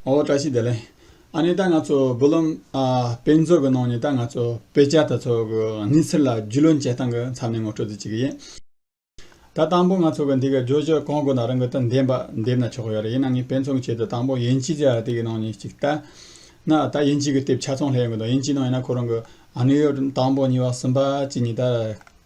ཨོ་བཀྲ་ཤིས་བདེ་ལེགས། ཨ་ནི་ད་ང་ཚོ་བུ་ལོན་དཔེ་མཛོད་ཀྱི་ནང་ནས་ད་ང་ཚོ་དཔེ་ཆ་དེ་ཚོ་གི་གནས་ཚུལ་ལ་རྒྱུས་ལོན་བྱེད་སྟངས་ཀྱི་མཚམས་ནས་ངོ་སྤྲོད་རྩིས་བྱེད་ཀྱི་ཡིན། ད་དང་པོ་ང་ཚོ་གི་འདི་གི་བརྗོད་བྱ་གང་དགོས་ན་རང་གི་དོན་བདེན་པ་འདེབས་ན་ཆོག་ཡོད་རེད་ཡིན་ན་ངས་དཔེ་མཚོན་གྱི་ཆེད་དུ་དང་པོ་དབྱིན་ཇི་དེ་གི་ནང་ནས་ཅིག་བལྟ་ན་ད་དབྱིན་ཇི་གི་དེབ་ཆ་ཚང་ལྷག་ཡོད་མི་འདུག་དབྱིན་ཇིའི་ནང་ཡིན་ན་ཁོ་རང་གི་ཨ་ནུའི་དང་པོ་གཉིས་པ་གསུམ་པ་བཅས་གཉིས་ད་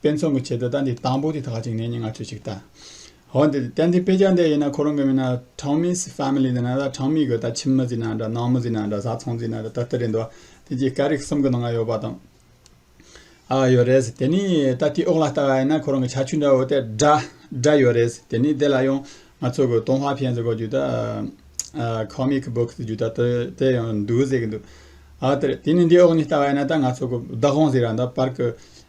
དཔེ་མཚོན་གྱི་ཆེད་དུ་རྟ་འདི་དང་པོ་དེ་དག་ཅིག་ནས་ནི་ང་ཚོས་ཅིག་བལྟ། ཧོ། འདི་རྟ་འདི་དཔེ་ཆ་འདི་ཡིན་ན་ཁོ་རང་གི་མིང་ན Tommy's Family ཟེར་ན་རྟ་གྲངས་མེད་གི་རྟ་ཁྱིམ་མི་ཟེར་ན་འདྲ་ནང་མི་ཟེར་ན་འདྲ་བཟའ་ཚང་ཟེར་ན་འདྲ་ད་ལྟ་རེད་འདུག་དེ་རྗེས་སྐད་རིགས་གསུམ་གྱི་ནང་ང་ཡོད་པ་དང། ཨ་ཡོད་རེད། དེ་ནས་རྟ་དེའི་འོག་ལ་ལྟ་བ་ཡིན་ན་ཁོ་རང་གི་ཆ་ཆུ་འདྲ་བོ་དེ་སྒྲ་སྒྲ་ཡོད་རེད། དེ་ནས་དེ་ལ་ཡང་ང་ཚོ་གི་ཏུང་ཧྭ་ཕན་ཟེར་གོ་རྒྱུ་དག Comic Book ཟེར་རྒྱུ་དག་དེ་དེ་ཡང་འདུག་ཟེར་གྱི་འདུག་ཨ་དེ་རེད། དེ་ནས་འདིའི་འོག་ནས་ལྟ་བ་ཡིན་ན་ད་ང་ཚོ་གི་བདག་དབང་ཟེར་ཡང་འདྲ་པར་གི་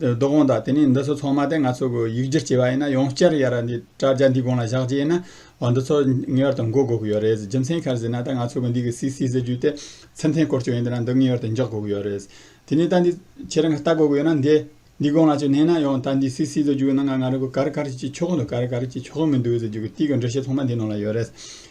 རྡོ་གོང་དང་དེ་ནས་འདི་ཚོ་ཚང་མ་དེ་ང་ཚོ་གི་ཡིག་སྒྱུར་བྱས་པ་ཡིན་ན་ཡང་བསྐྱར་ཡར་འདི་དྲ་རྒྱ་འདིའི་སྒང་ལ་བཞག་རྒྱུ་ཡིན་ན་བ་འདི་ཚོ་ངེས་པར་དུ་འགོད་དགོས་ཀྱི་ཡོད་རེད་རྒྱུ་མཚན་གལ་སྲིད་ན་ད་ང་ཚོ་གི་འདི་གི་སི་སི་ཟེར་རྒྱུ་དེ་ཚེ་འཐེན་སྐོར་བྱུང་ཡོད་འདི་ན་འདི་ངེས་པར་དུ་འཇོག་དགོས་ཀྱི་ཡོད་རེད། དེ་ནས་ད་འདི་ཁྱེད་རང་གི་ལྟ་དགོས་ཀྱི་ཡོད་ན་འདི་འདི་སྒང་ལ་ཅིག་བསྣན་ན་ཡང་ད་འདི་སི་སི་ཟེར་རྒྱུ་གི་ནང་ང་རང་གི་ག་རེ་ག་རེ་ཅིག་ཆོག་གི་འདུག་ག་རེ་ག་རེ་ཅིག་ཆོག་གི་མི་འདུག་ཟེར་རྒྱུ་གི་དེ་གི་འགྲེལ་བཤད་ཚང་མ་འདི་ནང་ལ་ཡོད་རེད།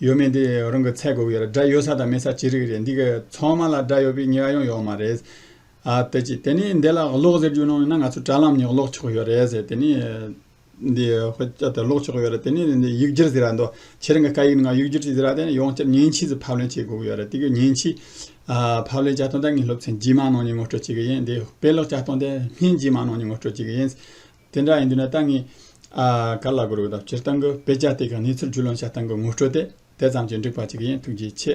ཡོད་མེད་འདི་རང་གི་ཚད་གོ་གི་རེད་དགྲ་ཡོད་ས་དང་མེད་ས་ཅི་རིགས་རེད་འདི་གི་ཚང་མ་ལ་དགྲ་ཡོད་པའི་ངེས་པ་ཡང་ཡོད་མ་རེད། དེ་གཅིག་དེ་ནས་འདི་ལ་གློག་ཟེར་རྒྱུ་ནང་ཡོད་ན་ང་ཚོ་དྲ་ལམ་ནས་གློག་ཆོག་ཡོད་རེད་ཟེར་དེ་ནས་འདི་གློག་ཆོག་ཡོད་རེད་དེ་ནས་འདི་ཡིག་སྒྱུར་ཟེར་ར་འདུག་ཁྱེད་རང་གི་སྐད་ཡིག་ནང་ཡིག་སྒྱུར་ཅིག་ཟེར་ར་དེ་ནས་ཡང་བསྐྱར་མཉེན་ཆས་སུ་ཕབ་ལེན་བྱེད་དགོས་ཀྱི་ཡོད་རེད་དེ་གི་མཉེན་ཆས་ཕབ་ལེན་བྱ་སྟངས་ད་ངས་སློབ་ཚན་རྗེས་མ་ནང་ནས་ངོ་སྤྲོད་བྱེད་ཀྱི་ཡིན་འདི་དཔེ་ཀློག་བྱ་སྟངས་དེ་སྨན་རྗེས་མ་ནང་ནས་ངོ་སྤྲོད་བྱེད་ཀྱི་ཡིན། དེ་འདྲ་ཡིན་དུས་ན་ཏང་གིས་ག་ལ་དགོས་རོགས་ཟླ་བསྐྱེལ་གཏང་གི་དཔེ་ཆ་དེ་ག་ནས་ཚུར་བརྒྱུད་ལོང་བྱ་གཏང་གི་ངོ་སྤྲོད་དེ་དེ་ཙམ་གྱིས་འགྲིག་པ་ཅིག་ཡིན་ཐུགས་རྗེ་ཆེ།